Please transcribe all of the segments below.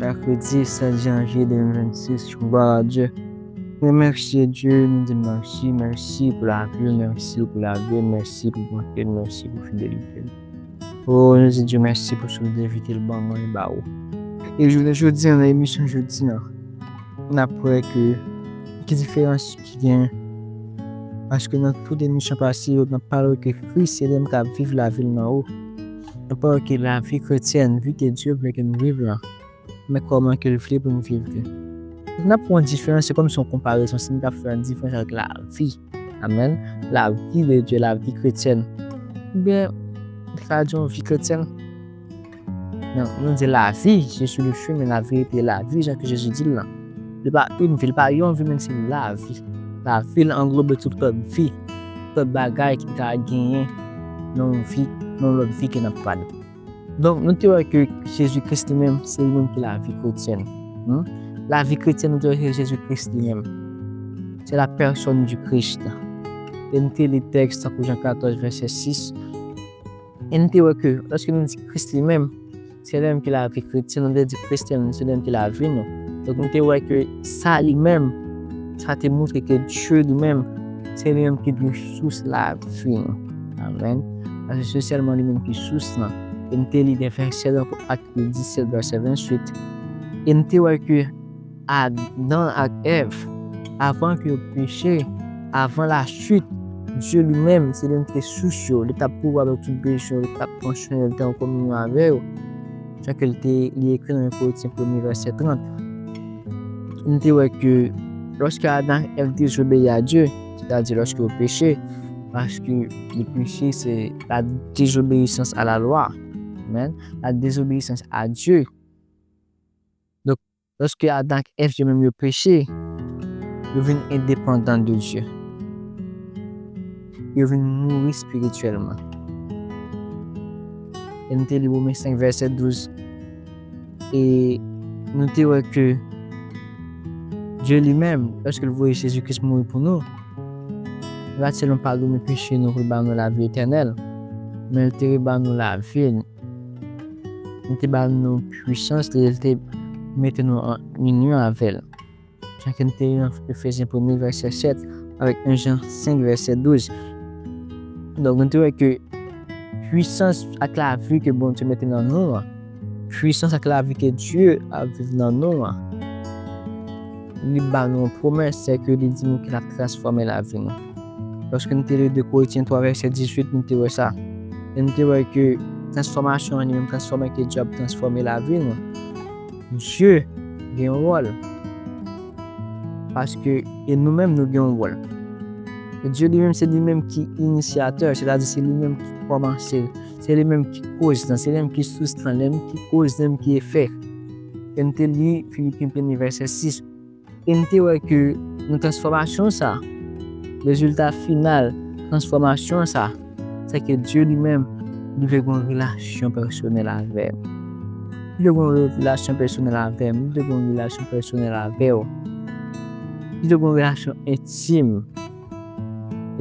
Mèkredi 7 janvye 2026, glwa a Dye. Remèsye Dye, nou di mèsi, mèsi pou lavi ou, mèsi pou lavi l, mèsi pou bonte l, mèsi pou fidelite l. O, nou di Dye mèsi pou souf de vi ke l ban mwen e ba ou. E jounen jodi an, nan emisyon jodi an, n ap wè ke ki diferans ki gen paske nan tout emisyon pase yo, n ap pale ke Kris se li menm k ap viv lavi l nan ou. Enpòt ki lavi kretyèn, vi ke Dye vle ke nou viv la, men kòman ke l vle pou nou viv li. Si n ap pran diferans, se kòmsi yon konparezon, si n ta fè yon diferans avèk lavi, amèn, lavi de Dye, lavi kretyèn, ebyen, li ka di yon vi kretyèn. Men, nou di lavi, je suis le chemin, la vérité et la vie, jan ke Jezi di l lan. Li pa yn vi, li pa yon vi men se yon lavi. Lavi l anglobe tout lòt vi, tout lòt bagay ki ta genyen nan yon vi, nan yon lòt vi ke n ap pale. Donk nou te wè ke Jezi Kris li menm se li menm ki lavi kretyèn. Lavi kretyèn nou te wè se Jezi Kris li menm. Se la pèsòn di Kris la. E nou te li tèks tankou Jan 14 vèsè 6. E nou te wè ke, lòske nou di Kris li menm, se li menm ki lavi kretyen, se nou te di Kris li menm, se li menm ki lavi nou. Donk nou te wè ke sa li menm, sa te montre ke Dye li menm, se li menm ki dwe sous lavi nou. Amen. Paske se sèlman li menm ki sous lan. E nou te li de vèsè lan pou Acte 17 vèsè 28. E nou te wè ke Adan ak Èv, avan ke yo peche, avan la chute, Dieu li menm, se li menm ki te sous yo, li tap pouvwa avèk tout bezwen yo, li tap pran swen yo, li te an kominyon avè yo, jan ke li te, li ekri nan 1 Korinthien premye vèsè 30. Nou te wè ke lòske Adan ak Èv dezobeyi a Dieu, sètadi lòske yo peche, paske le peche se la désobéissance à la loi, amen, la désobéissance à Dieu. Lòske Adan ak Èv yo menm yo peche, yo vin endepandan de Dye. Yo vin mouri espirityèlman. E nou te li Women 5 vèsè 12. E nou te wè ke Dye li menm, lòske l voye Jezi Kris mouri pou nou, li pa t sèlman padone peche nou pou l ba nou lavi etènèl, men li te reban nou lavi l. Li te ba nou pwisans li e li te mete nou an inyon avè l. Jan ke nou te li nan Efesyen premye vèsè 7 avèk 1 Jan 5 vèsè 12. Donk nou te wè ke pwisans ak lavi ke Bondye mete nan nou an, pwisans ak lavi ke Dye ap viv nan nou an, li ba nou yon pwomès, sèke li di nou ke l ap transfòme lavi nou. Lòske nou te li 2 Korintiens 3 vèsè 18 nou te wè sa. E nou te wè ke transfòmasyon an li menm transfòme ke Dye ap transfòme lavi nou. Dye gen yon wòl. Paske e nou menm nou gen yon wòl. E Dye li menm se li menm ki inisyateur, se ta di se li menm ki kòmanse, se li menm ki koz lan, se li menm ki sous lan, li menm ki koz, li menm ki efè. E nou te li Philippiens 1 vèsè 6. E m te wè ke nan transfòmasyon sa a, rezilta final transfòmasyon sa a, se ke Dye li menm, li vle gen yon relasyon pèsonèl avè m. Li vle gen yon relasyon pèsonèl avè m. Li vle gen yon relasyon pèsonèl avè w. Li vle gen yon relasyon entim.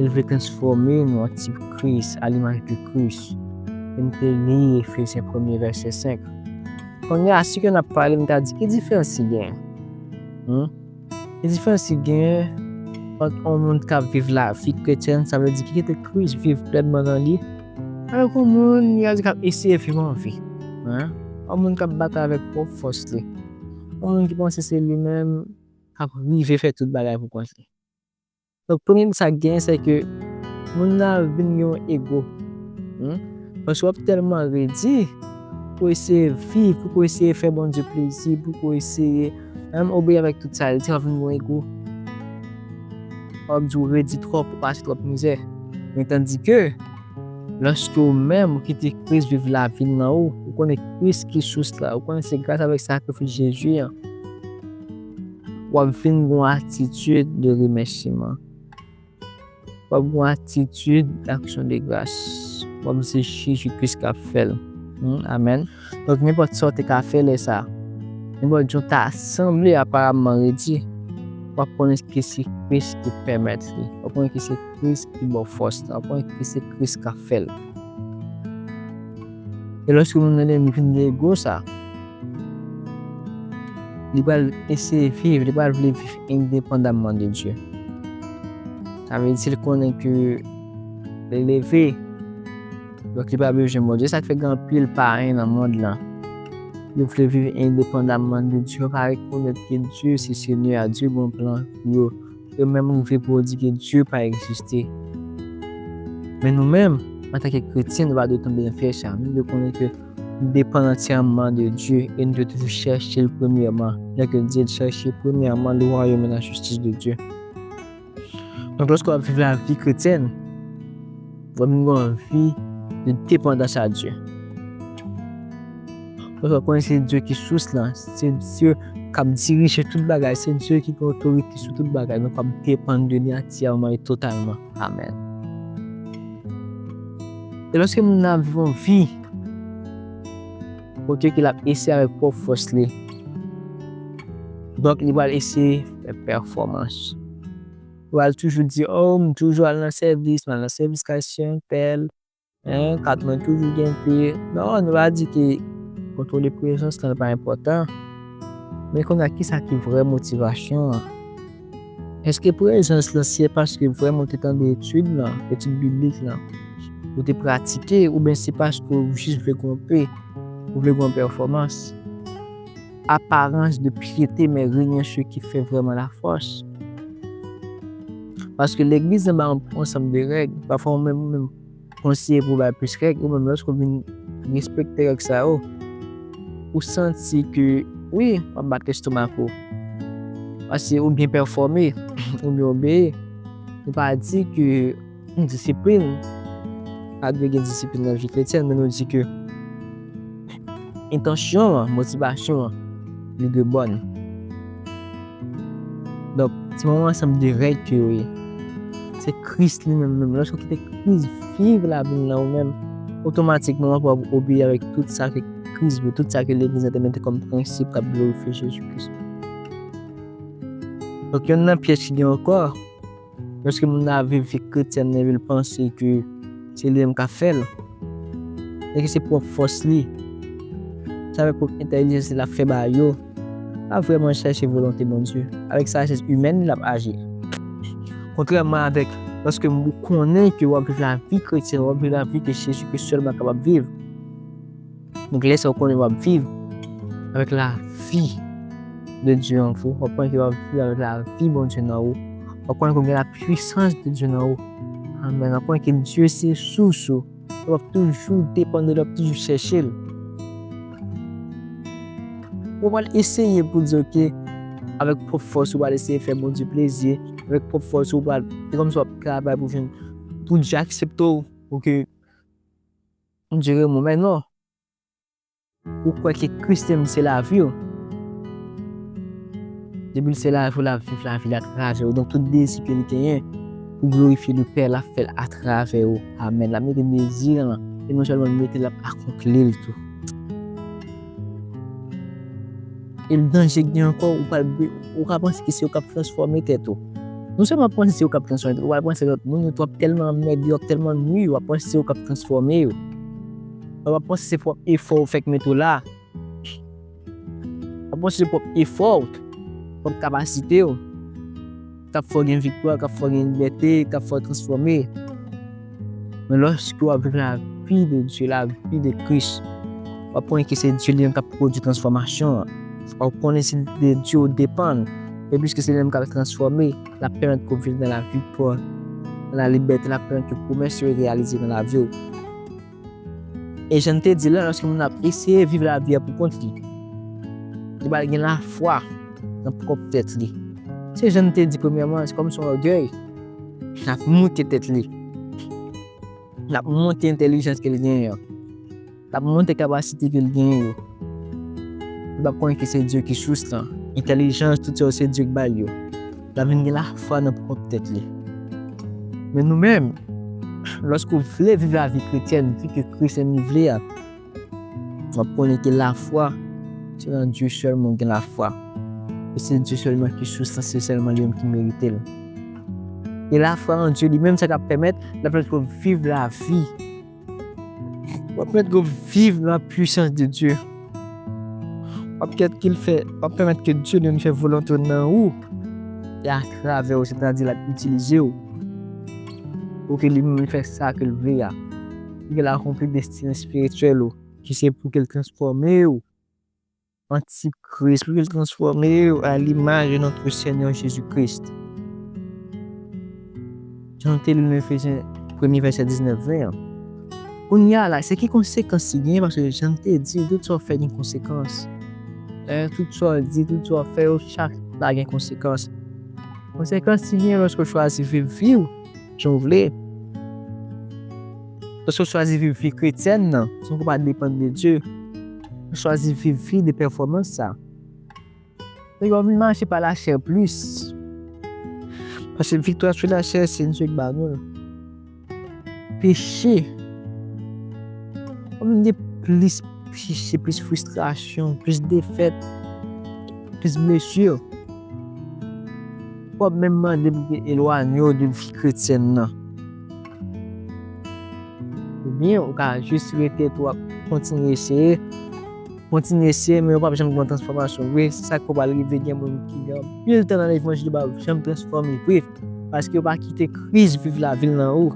El vle transfòme nou an tip Kris, a l'image de Christ. E m te li Efesyen premye vèsè 5. Kounye a, si ke n ap pale, m ta di, ki diferans ki genyen? Hum? Ki diferans ki genyen ant yon moun k ap viv lavi kretyèn, sa vle di ki kite Kris viv plenman nan li, avèk yon moun, li ka di, k ap eseye viv anvi? Hein? Yon moun k ap batay avèk pwòp fòs li. Yon moun ki panse se li menm k ap rive fè tout bagay pou kont li. Donk premye m sa k genyen se ke moun nan ap vin gen yon ego paske wap tèlman redi pou w eseye viv, pou w eseye fè Bondye plezi, pou w eseye menm obeyi avèk tout sa l di wap vin gen yon ego wap di w redi twòp, ou pase twòp mizè men tandike lòske ou menm ou kite Kris viv lavi l nan ou, ou konnen Kris ki sous la, ou konnen se gras avèk sakrifis Jezi an. W ap vin gen yon atitid de remèsiman. W ap gen yon atitid d'action de grâce. W ap se Jezi Kris k ap fè l. Amèn. Donk, nenpòt sa w te ka fè lè sa a, nenpòt jan w ta sanble aparamman redi, w ap konnen ke se Kris ki pèmèt li. W ap konnen ke se Kris ki ba w fòs la. W ap konnen ke se Kris k ap fè l. E lòske moun nan dèmi vin gen ego sa, li pral eseye viv, li pral vle viv endepandamman de Dye. Sa vle di si l konnen ke li leve, donk li pa bezwen Bondye. Sa k fè gen anpil payen nan mond lan, yo vle viv endepandamman de Dye, yo pa rekonèt ke Dye se Senyè a, Dye gen yon plan pou yo. Yo menm rive pou yo di ke Dye pa egziste. Men nou menm, antanke kretyen, nou pa dwe tonbe nan pyèj sa a. Nou dwe konnen ke nou depann antyèman de Dye e nou dwe toujou chèche l premyèman. Jan ke l di l, Chèche premyèman le wayòm e lajistis de Dye. Donk, lòske w ap viv lavi kretyèn, Mwen menm gen anvi de depandans a Dye. Mwen fè konnen se Dye ki sous lan, se Dye k ap dirije tout bagay, se Dye ki gen otorite sou tout bagay, nou kab depann de li antiyèman e totalman. Amèn. E lòske moun nan ap viv yon vi kote ke l ap eseye avèk pwòp fòs li, donk li pral eseye fè pèfòmans. Wal toujou di oh m toujou al nan sèvis mal nan sèvis kay sèm pèl hein kat mwen toujou gen pi non nou pa di ki kontrole prezans lan pa enpòtan men konya kisa ki vrè motivasyon an eske prezans lan se paske vrèman ou te tande etid lan etid biblik lan ou te pratike oubyen se paske ou jis vle gronpe ou vle gronpe pèfòmans. Aparans de pyete men renyen se ki fè vrèman la fòs. Paske legliz nan ba yon ansanm de règ, pafwa ou menm ou menm konseye pou bay plis règ, ou menm lòske ou vin respekte règ sa yo, ou santi ke wi w ap bat lestomak ou. Paske ou byen pèfòme, ou byen obeye. Nou pa di ke. Disiplin, pa dwe gen disiplin nan vi kretyen, men nou di ke entansyon an, motivasyon an, li dwe bòn. Donk, se yon ansanm de règ ke yo ye. Se Kris li menm menm. Lòske ou kite Kris viv lavi nan ou menm, otomatikman ou ap wè ou obeyi avèk tout sa ke Kris vle, tout sa ke legliz la te mete kòm prensip k'ap glorifye Jezi Kris. Donk, yonn nan pyèj ki gen ankò. Eske moun nan ap viv vi kretyèn li epi l panse ke se li menm k ap fè l? Eske se pwòp fòs li? Se avèk pwòp entèlijans li l ap fè bagay yo? L ap vrèman chèche volonte Bondye? Avèk sajès imèn li l ap aji? Kontrèman avèk lòske ou konnen ke w ap viv lavi kretyen, w ap viv lavi ke Jezi Kris sèlman kapab viv. Donk lè sa ou konnen wap viv avèk lavi de Dye an ou, wap konnen ke wap viv avèk lavi Bondye nan ou, wap konnen ke ou gen la pwisans de Dye nan ou, amèn, wap konnen ke Dye se sous ou, e wap toujou depann de li, wap toujou chèche l. Ou pral eseye pou di ok, avèk pwòp fòs ou pral eseye fè Bondye plezi, avèk pwòp fòs ou pral, se kòmsi wap travay pou vin, pou Dye aksepte w, pou ke. M di remou men non. Ou kwè ke Christene se lavi w. Depi l se lavi w l ap viv lavi l atravè w. Donk tout dezi ke li genyen pou glorifye le Pè l ap fè l atravè w. Amen. L ap mete dezi l lan e non sèlman l mete l ap akonpli l tou. El danje gen anko ou pral bri ou ka panse ki se yo kap transfòme tèt ou. Non sèlman panse se yo kap transfòme tèt ou, ou pral panse lòt moun yo tou ap tèlman anmède yo, ap tèlman nwi yo, ou ap panse se yo kap transfòme yo. Ou ap panse se pwòp efò ou fè k mete w la. Ou ap panse se pwòp efò ou, pwòp kapasite ou. K ap fè w gen viktwa, k ap fè w gen libète, k ap fè w transfòme. Men lòske w ap viv lavi de Dye, lavi de Kris, w ap konnen ke se Dye li menm k ap pwodui transfòmasyon an. W ap konnen se de Dye ou depann. E piske se li menm k ap transfòme, l ap pèmèt ke w viv nan laviktwa, nan lalibète, l ap pèmèt ke pwomès yo reyalize nan lavi w. E jan n te di la, lòske moun ap eseye viv lavi a poukont li, li pral gen lafwa nan pwòp tèt li. Se jan n te di premyèman, se kòm si yon ògèy, l ap moute tèt li, l ap moute entèlijans ke l genyen an, l ap moute kapasite ke l genyen yo. Li p ap konnen ke se Dye ki sous lan, entèlijans, tout sa yo se Dye ki ba l yo. L'ap vin gen lafwa nan pwòp tèt li. Men nou menm, lòske ou vle viv lavi kretyèn pi ke Kris menm li vle a, w'ap konnen ke lafwa, se nan Dye sèlman ou gen lafwa, e se Dye sèlman ki sous la, se sèlman li menm ki merite l'. E lafwa nan Dye li menm se sa k'ap pèmèt, l'ap pèmèt ke w' viv lavi. Wap met go viv la pwisans de Dye. Wap kèt kil fè, wap pèmèt ke Dye li menm fè volonte nan ou e a travè ou, se ta di lap itilize ou pou ke li menm li fè sa ke li vle a, pou ke l akonpli destine espirityèl ou ki se pou ke l transfòme ou. Antikris pral transfòme yo a limaj de notre Seigneur Jésus Christ. Jan nou te li nan Efesyen premye vèsè 19, 20 an. Kounye a la, se ki konsekans li genyen? Paske jan m te di, tout sa w fè gen konsekans. Tout sa w di, tout sa w fè yo chak la gen konsekans. Konsekans li genyen lòske w chwazi viv vi w. jan w vle. Paske w chwazi viv vi kretyèn nan san w pa depann de Dye, ou chwazi viv vi de pèfòmans sa. Donk wap vin mache pa lachè plis. Paske viktwa sou lachè se Dye ki ba nou l. Peche, wap vin gen plis peche, plis fristrasyon, plis defèt, plis blesir. Wap menm mande pou te elwanye w de vi kretyèn nan. Oubyen ou ka jis rete epi wap kontinye eseye, kontinye eseye men ou pap janm gen yon transfòmasyon vre, se sak fè pral rive gen moun ki gen anpil tan nan levanjil yo pa janm transfòme vre, paske yo pa kite Kris viv lavi l nan yo.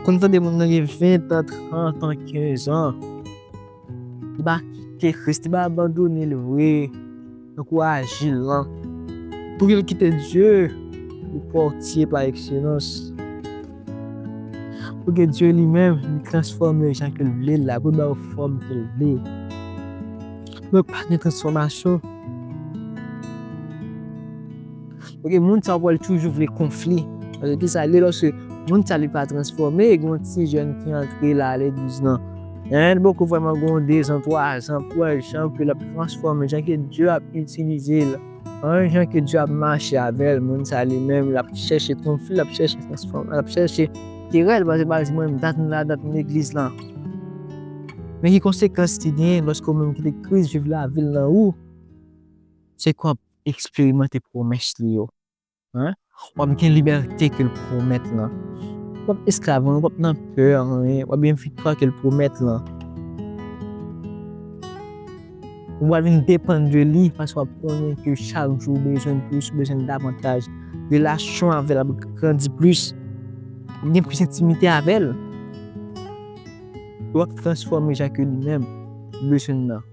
Konn tande moun nan gen 20 tan, 30 tan, 15 an. Ba kite Christie ba abandonel vre tankou ajil lan poukil kite Dieu pou portier par excellence pouki Dieu li menm li transformer jan kel vlel la poul baw fòm kel vle mwen pa gen transformation. Ok moun sa pwal toujou vle konfli. Paske ki sa li loske moun sa li pa transfome e gon ti jèn ki antre la le 12 nan. Hein li poko vreman gon 2 zan 3 zan pou wè jan ke lap transfome jan ke Dye ap itilize l hein jan ke Dye ap mache avèl moun sa li menm lap chèche konfli lap chèche transfome lap chèche kerèl paske baz li menm dat m la dat m legliz lan. Men ki konsekans ki genyen loske ou menm ki te kris viv lavi l nan ou se konp. eksperimante pwomès li yo. W ap gen libète ke l pwomèt lan. W pap esklav anyen, w pap nan pè anyen, w ap gen viktwa ke l pwomèt lan. Ou pral vin depann de li paske w ap konnen ke chak jou ou bezwen plis, ou bezwen davantaj. Relasyon w avè l ap grandi plis. W ap gen plis entimite avè l. W ap transfòme jan ke li menm bezwen nan.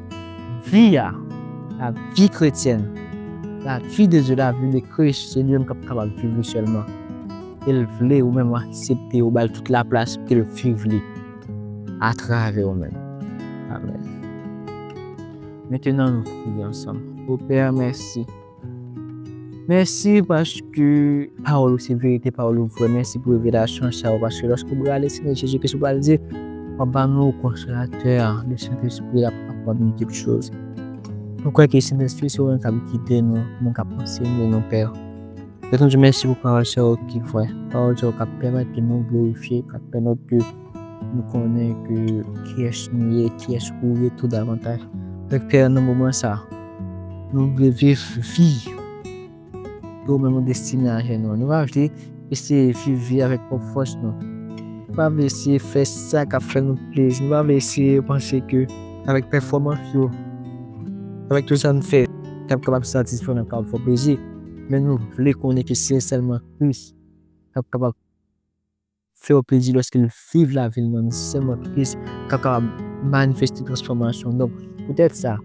Vi a, la vi kretyèn, la vi de Dye, la vi de Kris, se li menm k'ap kapab viv li sèlman. E l vle ou menm aksepte, ou ba l tout laplas pou ke l viv li atravè ou menm. Amèn. Mentenan nou priye ansanm. O Pè, mèsi. Mèsi paske pawòl ou se verite, pawòl ou vrè. Mèsi pou revelasyon sa yo paske lòske ou prale Senyè Jezi Kris ou pral di wap ba nou konsolatè a, le Sentespri l ap aprann nou tout choz. Nou kwè ke Sentespri se ou menm kap gide nou, ou menm kap ansenye nou Pè. Mèsi pou pawòl sa yo ki vrè, pawòl sa yo kap pèmèt ke nou glorifye, kap pèmèt ke Nou konnen ke kyes nou ye, kyes ou ye tou davantaj. Dèk pè nan moman sa, nou vle viv vi yo men nou destine a jè nou. Nou pa vle ese viv vi avèk pwòp fòs nou. Nou pa vle ese fè sa kap fè nou plezi. Nou pa vle ese panse ke avèk pèfòmans yo, avèk tout sa nou fè, nap kapab satisfè ou, nap kapab fè ou plezi. Men nou vle konnen ke se sèlman Kris kap kapab. fè yo plezi lòske l viv lavi l nan yon sistèm antrepris k ap kapab manifeste transfòmasyon. Donk, poutèt sa,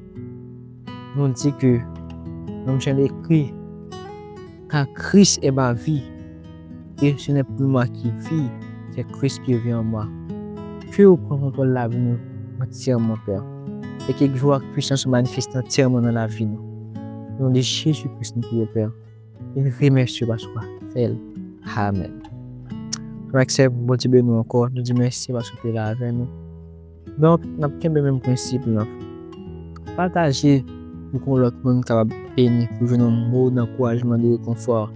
nou di ke, menm jan l ekri, Car Christ est ma vie, et ce n'est plus moi qui vis, c'est Christ qui vit en moi. Ke ou pran kontwòl lavi nou antyèman, Pè, e ke gwa ak puisans ou manifeste antyèman nan lavi nou. O non de Jezi Kris nou priye, Pè. Une vie merci paske ou pa fel. Amen. Frè sè pou Bondye beni nou ankò. Nou di mèsi paske ou te la avè nou. Donk, n ap kenbe menm prensip lan. Pataje pou kon lòt moun kapab beni, pou jwenn yon mo dankourajman, de rekonfò.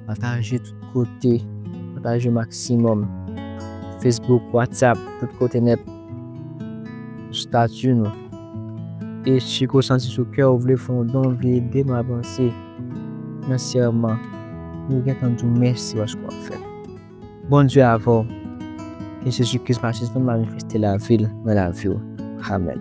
Pataje tout kote. Pataje o maksimòm. Facebook, WhatsApp, tout kote nèt. Stati nou. E si ke w santi sou kè ou vle fè yon don, vle ede nou avanse. Nan sèman ou gentan diw mèsi paske wap fèl. Bondye avèw ke Jezi Kris matyas nou manifeste lavil nan laviw. Amen.